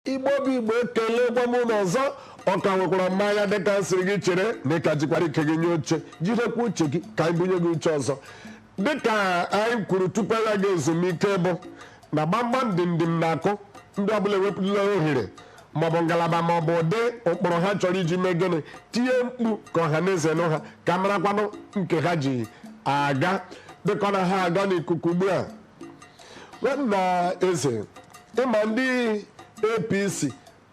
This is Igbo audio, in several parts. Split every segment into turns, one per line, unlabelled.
Igbo bụ Igbo ekelekwa m unu ọzọ ọ ka nwekwara m anya dịka m siri gị chere na ị ka jikwara ike gị nye oche jirikwa uche gị ka anyị bunye gị uche ọzọ dịka anyị kwuru tupu ya ga ezumike bụ na gbamgbam dimdim na-akụ ndị ọbụla ewepụla ohere maọbụ ngalaba maọbụ ụdị ụkpụrụ ha chọrọ iji mee gịnị tie mkpu ka ọha na eze nụ ha ka marakwanụ nke ha ji aga dịka ọ na ha aga n'ikuku ugbu a nwanna eze ị ma ndị apc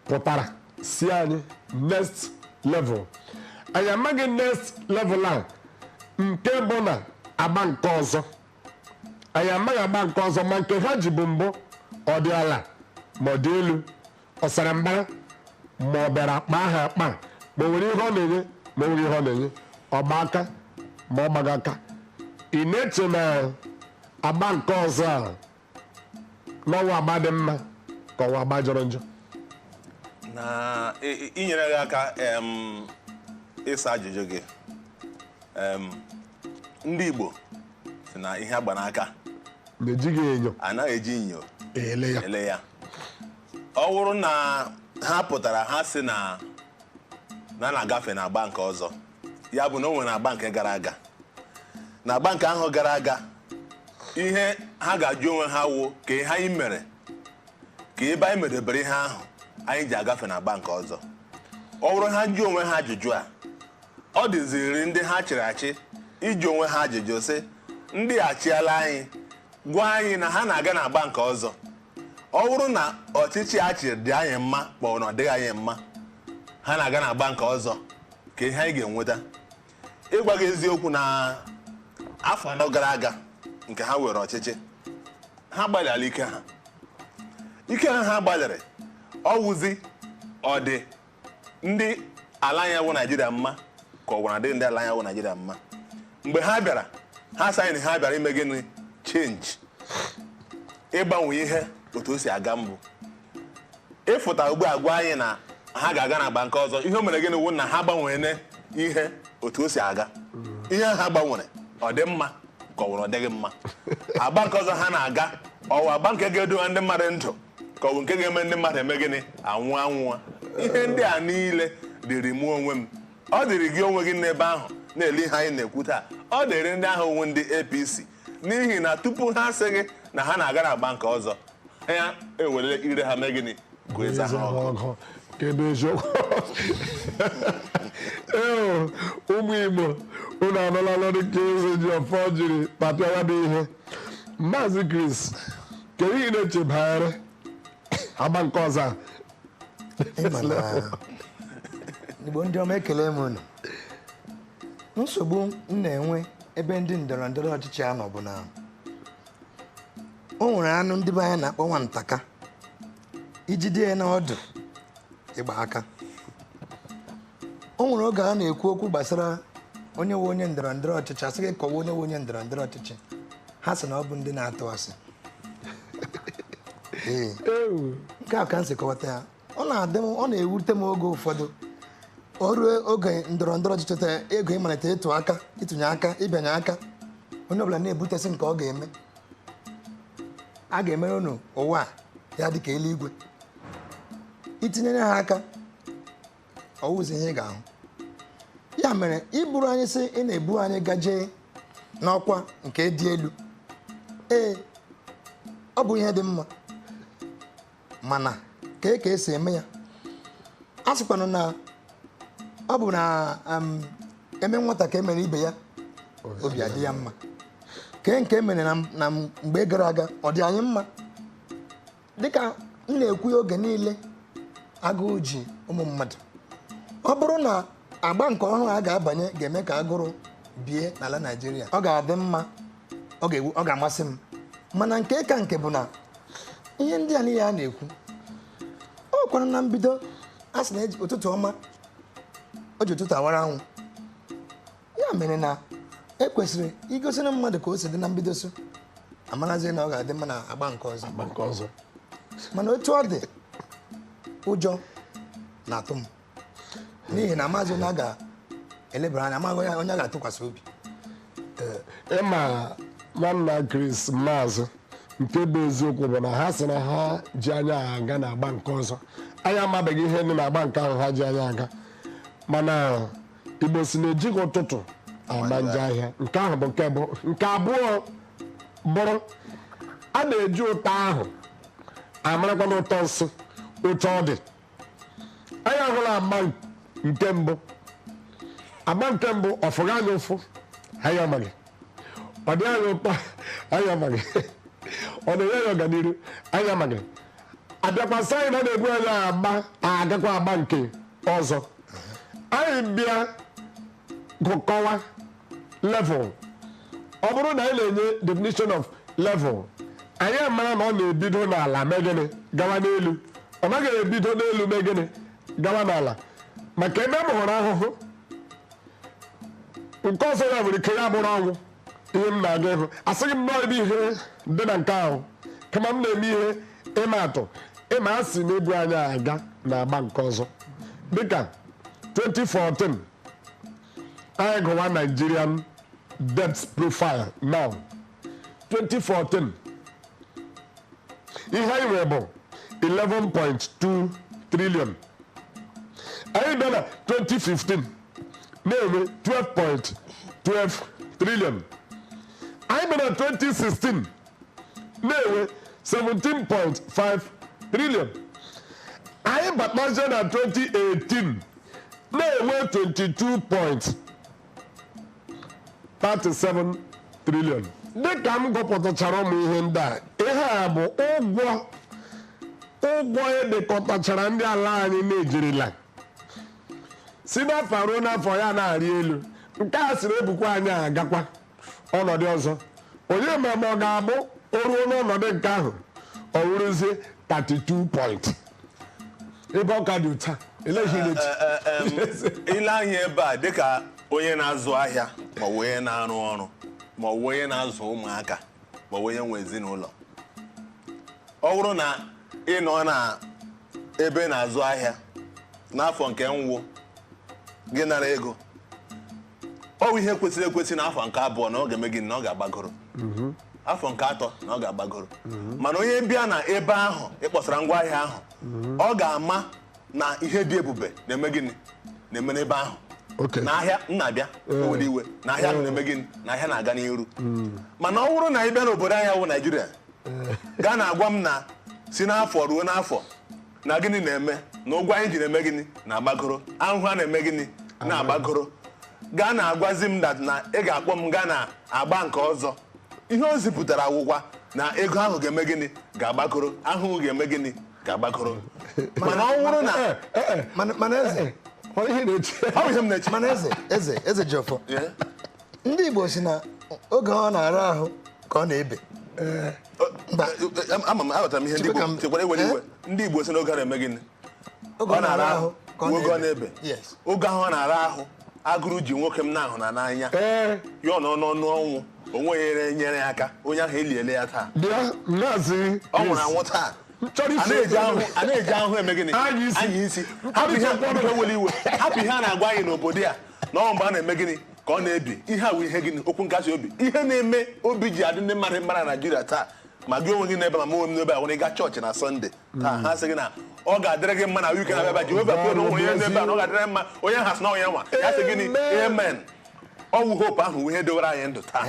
pụtara sị anyị next level anyị amaghị next level a nke bụ na agba nke ọzọ anyị amaghị agba nke ọzọ ma nke ha ji bụ mbụ ọ dị ala ma ọ dị elu Ọ sara mbara ma ọ bịara kpaa ha akpa ma o nwere ihe ọ na-enye ma o nweghị ihe ọ na-enye ọ gba aka ma ọ gbaghị aka ị na-eche na agba nke ọzọ a na ọ wụ agba dị mma ka ọ wụ agba jọrọ
njọ na i- i- inyere gị aka em, ịsa ajụjụ gị em, ndị Igbo sị na ihe a gba n'aka na
ejighị enyo anaghị eji enyo
ele ya ele ya ọ wụrụ na ha pụtara ha sị na na na-agafe na agba nke ọzọ ya bụ na o nwere agba nke gara aga na agba nke ahụ gara aga ihe ha ga-ajụ onwe ha wụ kee ihe anyị mere kee ebe anyị medebere ihe ahụ anyị ji agafe na agba nke ọzọ ọ wụrụ na ha jụọ onwe ha ajụjụ a ọ dịziri ndị ha chịrị achị ịjụ onwe ha ajụjụ sị ndị achịala anyị gwa anyị na ha na-aga na agba nke ọzọ ọ wụrụ na ọchịchị a chịrị dị anyị mma ma ọ na ọ dịghị anyị mma ha na-aga na agba nke ọzọ kee ihe anyị ga-enweta ịgwa gị eziokwu na afọ anọ gara aga nke ha were ọchịchị ha gbalịala ike ha ike ha ha gbalịrị ọ wụzi ọ dị ndị ala anyị wụ naijiria mma ka ọ wụrụ ọ dịghị ndị ala anyị wụ naijiria mma mgbe ha bịara ha sị anyị ha bịara ime gịnị change ịgbanwe ihe otu o si aga mbụ ịfụta ugbu a gwa anyị na ha ga-aga na agba nke ọzọ ihe o mere gịnị wụ na ha gbanwere ihe otu o si aga ihe ha gbanwere ọ dị mma ka ọ wụrụ ọ dịghị mma agba nke ọzọ ha na-aga ọ wụ agba nke ga-edowe ndị mmadụ ndụ ka ọ bụ nke ga-eme ndị mmadụ eme gịnị anwụ anwụwa ihe ndị a niile dịrị mụ onwe m ọ dịrị gị onwe gị n'ebe ahụ na-ele ihe anyị na-ekwu taa ọ dịrị ndị ahụ wụ ndị APC n'ihi na tupu ha asị gị na ha na-aga na agba nke ọzọ ha ewere ire ha mee gịnị gụọ eze ha ọnụ kedu
eziokwu ee ụmụ igbo unu anụla olu nke Ezejiọfọ jiri kpatara bụ ihe maazị Chris kedu ihe ị na-eche banyere agba nke ọzọ a? Ị
ma na Igbo ndị ọma ekele m unu nsogbu m na-enwe ebe ndị ndọrọ ndọrọ ọchịchị a nọ bụ na o nwere anụ ndị be anyị na-akpọ nwantaka i jide ya n'ọdụ ị gba aka o nwere oge a na-ekwu okwu gbasara onye wụ onye ndọrọ ndọrọ ọchịchị a sị gị kọwa onye wụ onye ndọrọ ndọrọ ọchịchị ha sị na ọ bụ ndị na-atụ asị Ee. nke a ka m si kọwata ya ọ na-adị m ọ na-ewute m oge ụfọdụ o ruo oge ndọrọ ndọrọ ọchịchị a ga-eji malite ịtụ aka ịtụnye aka ịbịanye aka onye ọbụla na-ebutesị nke ọ ga-eme a ga-emere unu ụwa ya dị ka eluigwe i tinyere ha aka ọ wụzi ihe ị ga-ahụ ya mere i buru anyị sị ị na-ebu anyị gaje n'ọkwa nke dị elu ee ọ bụ ihe dị mma mana kee ka e si eme ya a sịkwanụ na ọ bụ na um, e mee nwata ka e mere ibe ya obi adị ya mma kee nke e mere na m- na m- mgbe gara aga ọ dị anyị mma dịka m na-ekwu ya oge niile agụụ ji ụmụ mmadụ ọ bụrụ na agba nke ọhụrụ a ga-abanye ga-eme ka agụrụ bie n'ala Naịjirịa ọ ga-adị mma ọ ga-ewu ọ ga-amasị m mana nke ka nke bụ na ihe ndị a niile a na-ekwu ọ kwanụ na mbido a sị na ụtụtụ ọma o ji ụtụtụ awara anwụ ya mere na e kwesịrị igosinụ mmadụ ka o si dị na mbido so a marazie na ọ ga-adị mma na agba nke ọzọ agba nke ọzọ mana otu ọ dị ụjọ na-atụ m n'ihi na amaghị onye a ga-elebara anya amaghị onye a ga-atụkwasị
obi ị ma nwanna Chris
maazị
nke bụ eziokwu bụ na ha sị na ha ji anyị aga na agba nke ọzọ anyị amabeghị ihe dị n'agba nke ahụ ha ji anyị aga mana Igbo sị na e jighị ụtụtụ ama njọ ahịa nke ahụ bụ nke mbụ nke abụọ bụrụ a na-eji ụtọ ahụ amarakwanụ ụtọ nsị otu ọ dị anyị ahụla agba nke mbụ agba nke mbụ ọ fụghị anyị ụfụ anyị amaghị ọ dị anyị ụtọ anyị amaghị ọ na-enye anyị ọganihu anyị amaghị a bịakwa sị anyị na ọ na-ebu anyị agba agakwa agba nke ọzọ anyị bịa gụkọwa level ọ bụrụ na anyị na-enye definition of level anyị amara na ọ na-ebido n'ala mee gịnị gawa n'elu ọ naghị ebido n'elu mee gịnị gawa n'ala maka ebe m hụrụ ahụhụ nke ọzọ ya nwere ike ya bụrụ ọnwụ ihe m na-aga ịhụ asịghị m nọọ ebe ihe dị na nke ahụ kama m na-eme ihe ịma atụ ị ma a sị na-ebu anyị aga na agba nke ọzọ dịka 2014 anyị gụwa Nigerian debt profile now 2014 ihe anyị nwere bụ 11.2 trillion anyị bịa na 2015 na-enwe 12.12 trillion anyị bịa na 2016 na-enwe 17.5 trillion anyị batazie na 2018 na-enwe 22.37 trillion dịka m gụpụtachara ụmụ ihe ndị a ihe a bụ ụgwọ ụgwọ e dekọtachara ndị ala anyị na-ejirila si n'afọ ruo n'afọ ya na-arị elu nke a sịrị ebukwa anyị agakwa ọnọdụ ọzọ onye ma ma ọ ga-abụ o ruo n'ọnọdụ nke ahụ ọ wụrụzie 32 point ebe ọ ka dị ụta eleghịghị
echi i lee anya ebe a dịka onye na-azụ ahịa ma ọ bụ onye na-arụ ọrụ ma ọ bụ onye na-azụ ụmụaka ma ọ bụ onye nwe ezinụlọ ọ bụrụ na ị nọ na ebe ị na-azụ ahịa n'afọ nke mbụ gị nara ego ọ bụ ihe kwesịrị ekwesị na afọ nke abụọ na ọ ga-eme gịnị na ọ ga-agbagoro afọ nke atọ na ọ ga-agbagoro mana onye bịa na ebe ahụ ị kpọsara ngwa ahịa ahụ ọ ga-ama na ihe dị ebube na-eme gịnị na-eme n'ebe ahụ Okay. na ahịa m na-abịa owere iwe na ahịa ahụ na-eme gịnị na ahịa na-aga n'iru mana ọ bụrụ na ị bịa n'obodo anyị wụ Naijiria gị ana-agwa m na si n'afọ ruo n'afọ na gịnị na-eme na ụgwọ anyị ji na-eme gịnị na-agbagoro ahụhụ a na-eme gịnị na-agbagoro gị ana-agwazi m that na ị ga-akpọ m gaa na agba nke ọzọ ihe o zipụtara awụkwa na ego ahụ ga-eme gịnị ga-agbagoro ahụhụ ga-eme gịnị ga-agbagoro mana ọ bụrụ na eh, eh, eh.
mana eze ọ
bụ ihe m na-eche mana eze eze
Ezejiọfọ ndị Igbo sị na oge ọ na-ara ahụ ka ọ na-ebe
eh. ama m aghọtara m ihe ndị Igbo chekwara ewere iwe eh? ndị Igbo sị na oge ọ na-eme gịnị ọ na-ara ahụ oge ọ na-ebe oge ahụ ọ na-ara ahụ agụrụ ji nwoke m na-ahụ na n'anya eh. ya ọ nọ n'ọnụ ọnwụ o nweghị onye nyere ya aka onye ahụ eliele ya taa ọ nwụrụ anwụ taa a na-eji ahụ eme gịnị anya isi hapụ ihe a na-agwa anyị n'obodo a na ọ mgbe a na-eme gịnị ka ọ na-ebi ihe a wụ ihe gịnị okwu nkasi obi ihe na-eme obi ji adị ndị mmadụ mma na naijiria taa ma gị onwe gị n'ebe ma mụnwe m n'ebe a nwere ịga chọọchị na sọnde taa ha sị gị na ọ ga-adịrị gị mma na week na-abịa abịa jehova kwere onwe ya n'ebe a na ọ ga-adịrị mma onye ha sị na onye nwa ya sị gịnị amen ọ wụ hope ahụ ihe dowere anyị ndụ taa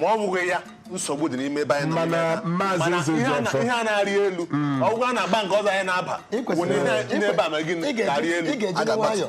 ma ọ bụghị ya nsogbu dị n'ime ebe anyị nọ n'ime ya. Mana ihe a na- ihe a na-arị elu ọgwụgwọ a n'agba nke ọzọ anyị na-aba wụ na ihe- ihe ebe a ma gịnị ga-arị elu ị ga-eji nwayọọ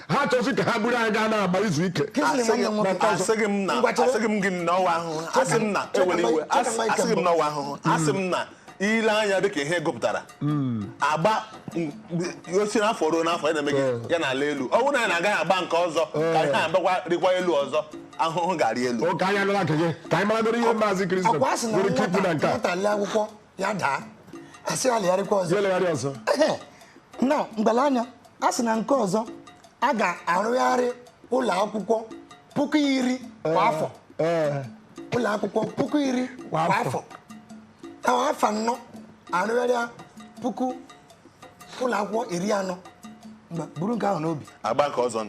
ha achọzi ka ha buru anyị gaa n'agba izu ike
asịghị m na asịghị m gị na ọ wụ ahụhụ asị m na ewere iwe asịghị m na ọ wụ ahụhụ asị m na i lee anya dịka ihe gụpụtara hmm. agba a si n'afọ ruo n'afọ ya na-eme eh. ya na-ala elu ọ bụrụ na ya na-agaghị agba nke ọzọ ka eh. ihe a bịakwa rịkwa elu ọzọ ahụhụ ga-arị elu ka anyị anụla nke gị
ka anyị maragoro ihe maazị Kristo nwere ike ikwu na nke a
ya daa a sị ya legharịkwa ọzọ ya legharị ọzọ na mgbele anya a sị na
nke
ọzọ a ga-arụgharị ụlọ akwụkwọ puku iri kwa afọ ụlọ akwụkwọ puku iri kwa afọ ahụ afọ anọ a rụgharịa puku ụlọ akwụkwọ iri anọ buru nke ahụ n'obi agba nke ọzọ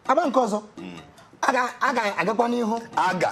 agba nke ọzọ
hmm. a ga-agakwa n'ihu aga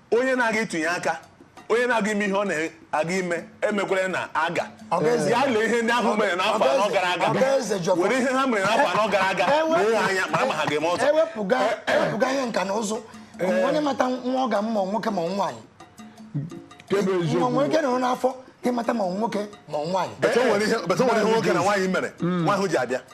onye na-aga ịtụnye aka onye na-aga ime ihe ọ na-aga ime emekwere na aga ya lee ihe ndị ahụ mere n'afọ anọ gara aga were ihe ha mere n'afọ anọ gara aga lee ha anya mara ma ha ga-eme ọzọ ewepụga ewepụga
ihe nka na ụzụ o nwee onye mata nwa ọ ga-amụ ma nwoke ma nwaanyị Kee ebe nwa eziokwu. nwere ike nọrọ n'afọ ị mata ma nwoke ma nwaanyị But e nwere ihe but e nwere
ihe nwoke na nwaanyị mere nwa ahụ ji abịa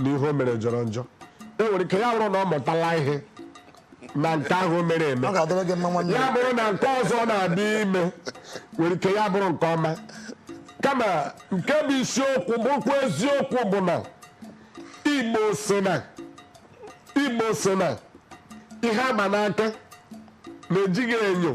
na ihe o mere jọrọ njọ e nwere ike ya bụrụ na ọ mụtala ihe na nke ahụ o mere eme ọ ga-adịrị gị mma nwanne ya
bụrụ na nke ọzọ
na-abịa ime nwere ike ya bụrụ nke ọma kama nke bụ isiokwu bụkwa eziokwu bụ na igbo sị na igbo sị na ihe a ma n'aka na ejighị enyo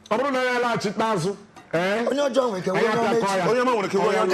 ọ bụrụ na ya alaghachite azụ ee
onye
ọjọọ
nwere ike
onye
ọma nwere ike
onye ọma